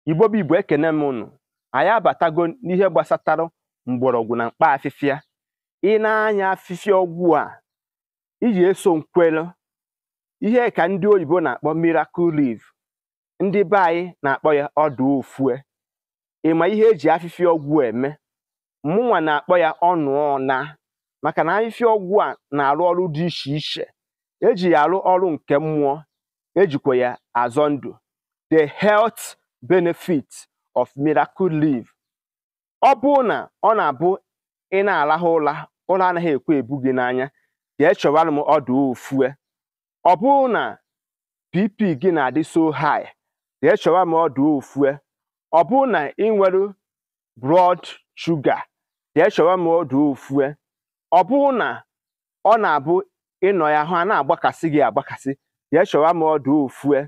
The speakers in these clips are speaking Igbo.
Igbo bụ Igbo ekene m ụnụ anyị abatago n'ihe gbasatara mgbọrọgwụ na mkpa afịfịa i nee anya afịfịa ọgwụ a iji eso nkwelu ihe ka ndị oyibo na-akpọ miracle leaf ndị be anyị na-akpọ ya ọdụ ofue ị ma ihe eji afịfịa ọgwụ eme mụnwa na-akpọ ya ọnụ ọna maka na ahịhịa ọgwụ a na-arụ ọrụ dị iche iche eji ya arụ ọrụ nke mmụọ ejikwa ya azọ ndụ the health benefit of miracle leaf ọ bụrụ na ọ na-abụ ị na-arahụ ụra ụra anaghị ekwe ebu gị n'anya jee chọwara m ọdụ ofue ọ bụrụ na bp gị na-adị so high jee chọwa m ọdụ ofue ọ bụrụ na ị nwere blood sugar jee chọwa m ọdụ ofue ọ bụrụ na ọ na-abụ ị nọ ya ahụ ana-agbakasị gị agbakasị jee chọwa m ọdụ ofue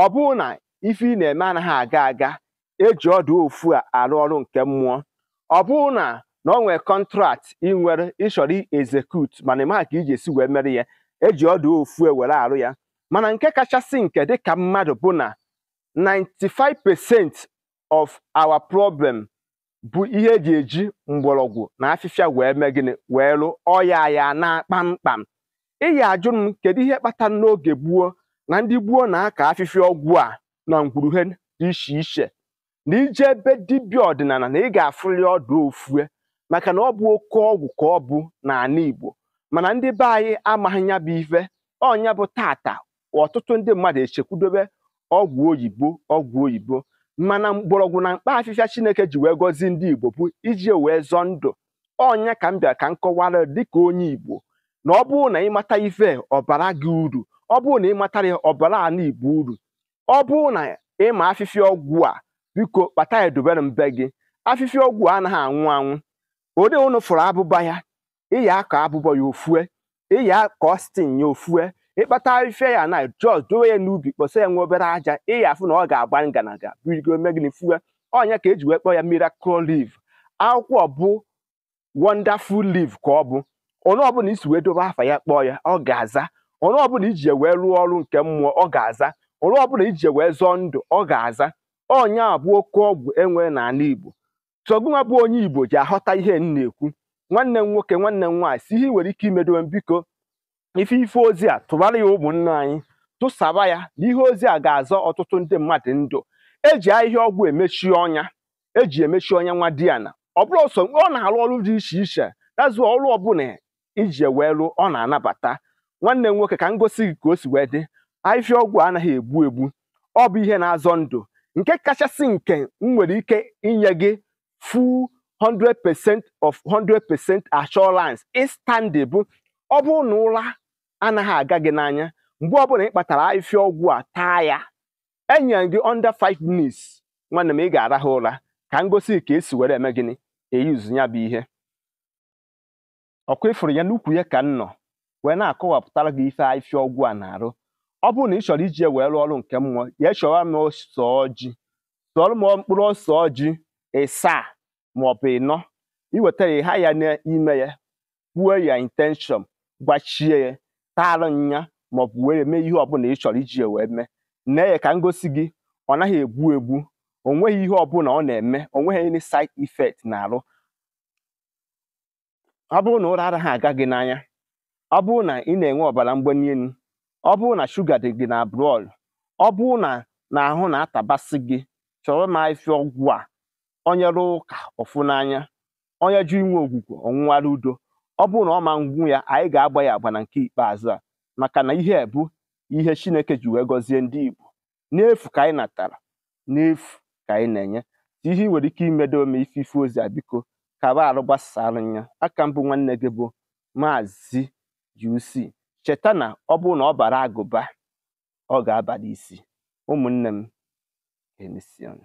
ọ bụrụ na ife ị na-eme anaghị aga aga eji ọdụ ofue arụ ọrụ nke mmụọ ọ bụrụ na na ọ nwere contract ị nwere ị chọrọ execute mana ị maghị ka i je-esi wee mere ya eji ọdụ ofue were arụ ya mana nke kachasị nke dịka mmadụ bụ na 95% of our problem bụ ihe eji eji mgbọrọgwụ na afịfịa wee mee gịnị wee lụ ọya ya naa kpamkpam ị ya-ajụ m kedu ihe kpatara n'oge gboo na ndị gboo na-akọ afịfịa ọgwụ a na ngwuru ha dị iche iche na i jee be dibịa ọdịnana na ị ga-afụli ọdụ ofue maka na ọ bụ oke ọgwụ ka ọ bụ n'ana Igbo mana ndị be anyị amaghị ya bụ ife ọ nya bụ taata ọtụtụ ndị mmadụ echekwudobe ọgwụ oyibo ọgwụ oyibo mana mgbọrọgwụ na mkpa afịfịa Chineke ji wee gọzie ndị Igbo bụ iji wee zọọ ndụ ọ nya ka m bịara ka m kọwara dịka onye Igbo na ọ bụrụ na ị mata ife ọ baara gị uru ọ bụrụ na ị matara ya ọ baara ana Igbo uru ọ bụrụ na ị ma afịfịa ọgwụ a biko kpata ya dobere na be gị afịfịa ọgwụ a anaghị anwụ anwụ ode ụnụ fụrụ abụba ya ị ya-akọ abụba ya o fue ị ya kọọ stem ya o fue ị kpata ife ya na just dowe ya n'ubi kpọsa ya nwa obere aja ị ya-afụ na ọ ga-agba nganaga birigo mee gịnị fue ọ nya ka eji wee kpọọ ya miracle leaf akwụkwọ bụ wonderful leaf ka ọ bụ onye ọbụla isi wee dobe afa ya kpọọ ya ọ ga-aza onye ọbụla iji ya wee rụọ ọrụ nke mmụọ ọ ga-aza onye ọbụla iji ya wee zọọ ndụ ọ ga-aza ọ nya bụ oke ọgwụ enwere n'ana igbo so gụnwa bụ onye igbo ji aghọta ihe m na-ekwu nwanne m nwoke nwanne m nwaanyị si ihe nwere ike imedowe m biko ife ife ozi a tụbara ya ụmụnne anyị tụsaba ya na ihe ozi a ga-azọ ọtụtụ ndị mmadụ ndụ eji ahịhịa ọgwụ emechi ọnya eji emechi ọnya nwadiana ọ bụrụ ọsọ ọ na-arụ ọrụ dị iche iche dazụ ọrụ ọbụla iji ya wee rụọ ọ na-anabata nwanne m nwoke ka m gosi gị ka o si wee dị ahịhịa ọgwụ anaghị egbu egbu ọ bụ ihe na-azọ ndụ nke kachasị nke m nwere ike inye gị full 100% of 100% assurance ịstandị bụ ọ bụrụ na ụra anaghị aga gị n'anya mgbe ọbụla ị kpatara ahịhịa ọgwụ a taa ya enyere gị under 5 minutes nwanne m ị ga-arahụ ụra ka m gosi gị ka e si were eme gịnị e use ya bụ ihe ọ kwa ịfụrụ ya n'ukwu ya ka m nọ wee na-akọwapụtara gị ife afịfịa ọgwụ a na-arụ ọ bụrụ na ị chọrọ iji ya wee rụọ ọrụ nke mmụọ ya chọwa m ose ọjị sụọrọ m mkpụrụ ose ọjị ịsaa ma ọ bụ ịnọ i wetara ya ha ya n'ime ya kwuo ya intention gwachie ya taara nya ma ọ bụ were mee ihe ọbụla ị chọrọ iji ya wee mee nee ya ka m gosi gị ọ naghị egbu egbu o nweghị ihe ọbụla ọ na-eme o nweghị any side effect n'arụ ọ bụrụ na ụra anaghị aga gị n'anya ọ bụrụ na ị na-enwe ọbara mgbali elu ọ bụrụ na shuga dị gị na blood ọ bụrụ na na ahụ na-atabasị gị chọrọ m afịfịa ọgwụ a onye rụọ ụka ọ fụ n'anya onye jụ inwe ogwugwu ọ nwụwara udo ọ bụrụ na ọ mmanwụ ya anyị ga-agba ya agba na nke ikpeazụ a maka na ihe a bụ ihe chineke ji wee gọzie ndị igbo n'efu ka anyị natara n'efu ka anyị na-enye ihe ị nwere ike imedo ome ife ife ozi a biko kaba arụ gbasara ya a ka m bụ nwanne gị bụ maazị UC cheta na ọ bụrụ na ọ baara agụba ọ ga-abara isi ụmụnne m emesịanụ